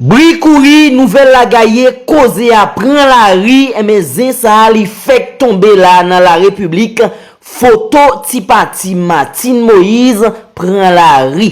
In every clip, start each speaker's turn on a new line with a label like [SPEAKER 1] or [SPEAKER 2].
[SPEAKER 1] Bri kouri, nouvèl la gaye, koze a pran lari, enben zen sa a li fèk tonbe la nan la repiblik, foto ti pati Martine Moïse pran lari.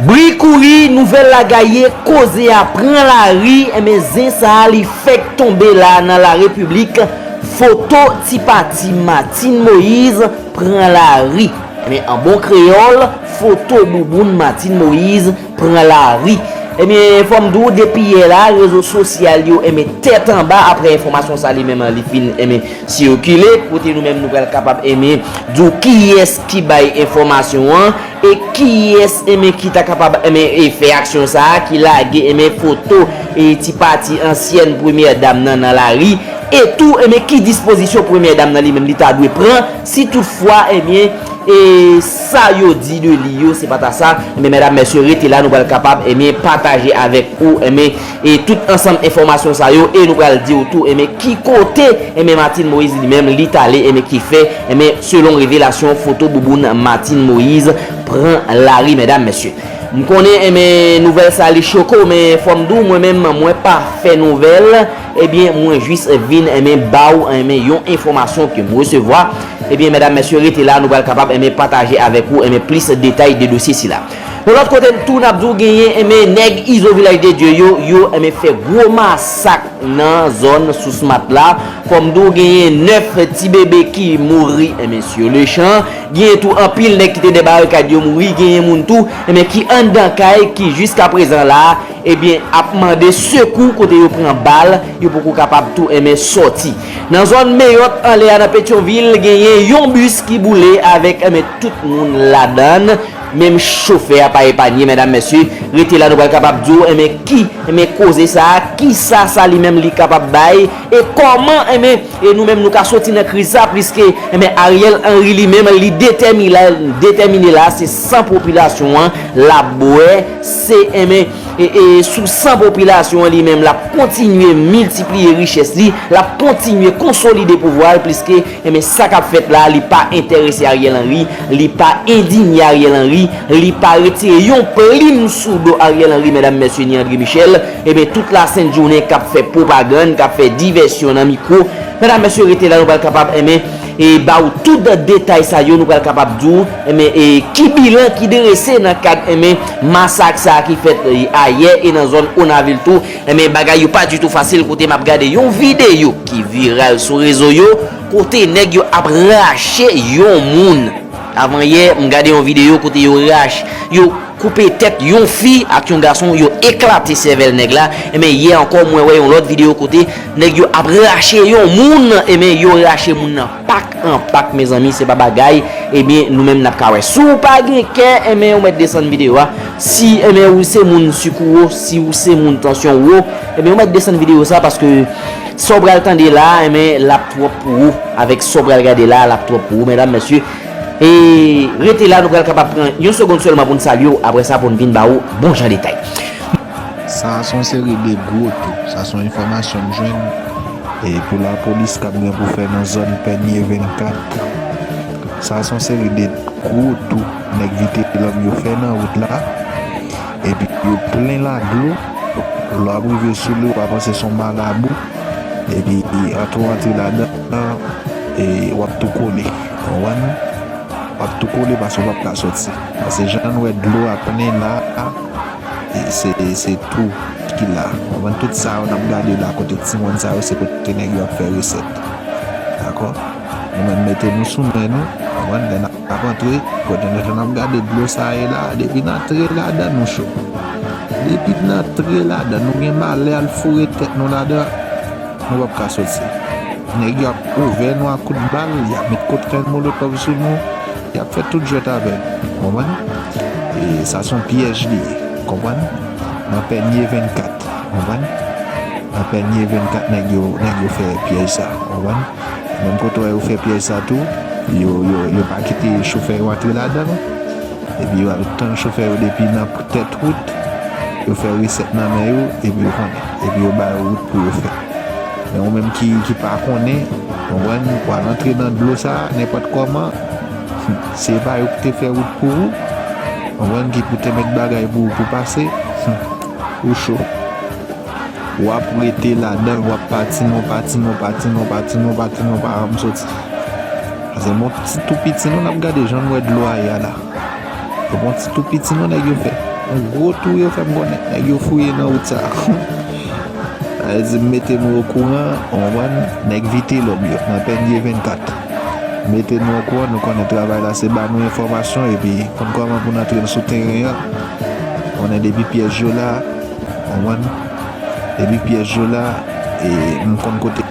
[SPEAKER 1] Bri kouri, nouvèl la gaye, koze a pran lari, enben zen sa a li fèk tonbe la nan la repiblik, foto ti pati Martine Moise pran lari. Enben an bon kreyòl, foto bouboun Martine Moise pran lari. Ebyen fòm di w depi yè la rezo sosyal yo enben tèt anba aprè enfòmasyon sa li menm li fin enben sikile kote nou menm nou pral kapab enben di w kiyès ki bay enfòmasyon an e kiyès enben ki ta kapab enben e fè aksyon sa ki lage enben foto e ti pati ansyèn premyè dam nan nan lari e tou enben ki dispozisyon premyè dam nan li menm li ta dwe pran Si tout fwa ebyen e sa yo di de li yo se pa ta sa ebyen medam mesye rete la nou pral kapab ebyen pataje avek ou ebyen e tout ansanm enfomasyon sa yo e nou pral diw tou ebyen ki kote ebyen Martine Moise li menm li tale ebyen ki fè ebyen selon revelasyon foto bouboun Martine Moise pran lari medam mesye. M konnen ebyen nouvèl sa li choke w men fòm di w mwen menm mwen pa fè nouvèl. Ebyen mwen jis vin enben baw enben yon enfomasyon kem resevwa ebyen medam mesye rete la nou pral kapab enben pataje avek ou enben plis detay de dosye sila yon lot kote tou nap diw genyen enben neg izo vilaj de Dye yo yo enben fè gwo masak nan zon sous mat la fom diw genyen 9 ti bebe ki mouri enben sur le chan genyen tou anpil neg kite dè barikad yo mouri genyen moun tou enben ki andan kay ki jiska prezan la. Ebyen ap mande sekou kote yo pran bal yo poko kapab tou enmen sòti. Nan zòn Meyòt anlè a nan Petyonvil genyen yon bis ki boule avèk enmen tout moun ladann menm chofè a pa epanye medam mesye rete la nou pral kapab diw enmen ki enmen koze sa kisa sa li menm li kapab bay e kòman enmen E nou menm nou ka soti nan kriz sa pliske enben Ariel Henry li menm li detèmine la se san popilasyon an lap bwè se enben e sou san popilasyon an li menm lap kontinye miltipliye richès li lap kontinye konsolide pouvwa l pliske enben sa kap fèt la li pa entèrese Ariel Henry li pa endinye Ariel Henry li pa retire yon plim sou do Ariel Henry medam mesye ni André Michel. Ebyen tout la sent jounen kap fè pwopagann kap fè divèsyon nan mikwo medam mesye rete la nou pral kapab enben e ba ou tout detay sa yo nou pral kapab di ou enben e ki bilan ki drese nan kad enben masak sa ki fèt ayè e nan zòn onavil tou enben bagay yo pa ditou fasil kote map gade yon videyo ki viral sou rezo yo kote nèg yo ap rache yon moun avan yè m gade yon videyo kote yo rache yo. koupe tèt yon fi ak yon gason yo eklate sèvèl nèg la enben yè ankò mwen wè yon lòt video kote nèg yo ap rache yon moun enben yo rache moun nan pak an pak mezanmi se pa bagay ebyen nou menm nap ka wè si w pa gen kè enben ou mèt desann video a si enben ou se moun sik ou wo si ou se moun tansyon ou wo enben ou mèt desann video sa paske sa w pral tande la enben lap twòp pou ou avèk sa w pral gade la lap twòp pou ou medam mesye E rete la nou pral kapab pran yon segond sèlman pou n salye w aprè sa pou n vin ba ou bon jan detay. Sa a
[SPEAKER 2] son seri de gwo tou. Sa son enfòmasyon m jwenn pou lapolis kap gen pou fè nan zòn pènye 24. Sa a son seri de gwo tou nèg vitelòm yo fè nan wout la epi yo plen la dlo lè w ap rive sou li w pa panse son malabou epi antre w antre ladan e wap tou kole. Konprann? Wap tou kole paske ou pap ka soti. Paske jan nou wè dlo a plen la a, se se tou ki la. Konprann? Tout sa yo nap gade la kote ti moun sa yo se kote nèg yo ap fè resèt. Dakò? Nou menm mete nou sou men nou, konprann? Lè nap antre, kote nou jan nap gade dlo sa a ye la a, depi n antre ladan nou cho. Depi n antre ladan nou gen malè al foure tèt nou ladan, nou pap ka soti. Nèg yo ap ouvè nou ak kout bal, y ap met koktèl molotòv sou nou, y ap fè tout jwèt avè nou. Ou konprann? E sa se yon pyèj li ye. Ou konprann? Nan Pènye 24. Ou konprann? Nan Pènye 24 nèg yo, nèg yo fè pyèj sa. Ou konprann? Menm kote w wè yo fè pyèj sa tou, yo, yo, yo pa kite chofè yo antre ladan l. Epi yo al tann chofè yo depi nan tèt wout, yo fè resèt nan men yo, epi ou konnen. Epi yo ba yo wout pou yo fè. Men ou menm ki pa konnen, konprann, ou pral antre nan dlo sa a nenpòt kòman, se pa yo ki te fè wout pou ou, konprann, ki pou te met bagay pou ou pou pase, ou cho. W ap rete ladan l, w ap patine, w patine, w patine, w patine, w patine, w pa janm soti. Pase m ap ti tou piti nou, n ap gade jan nou wè dlo a ye a la. Se pa yon ti tou piti non nèg yo fè. Yon gwo tou yo fè m konnen nèg yo fouye nan wout sa a. Sa vle di mete nou okouran, ou konprann, nèg Vitelòm yo nan Pènye 24. Mete nou okouran, nou konnen travay la se ba nou enfòmasyon epi konn kòman pou n antre n sou teren an. Ou konnen depi pyèj yo la, ou konprann, depi pyèj yo la e m konn kote.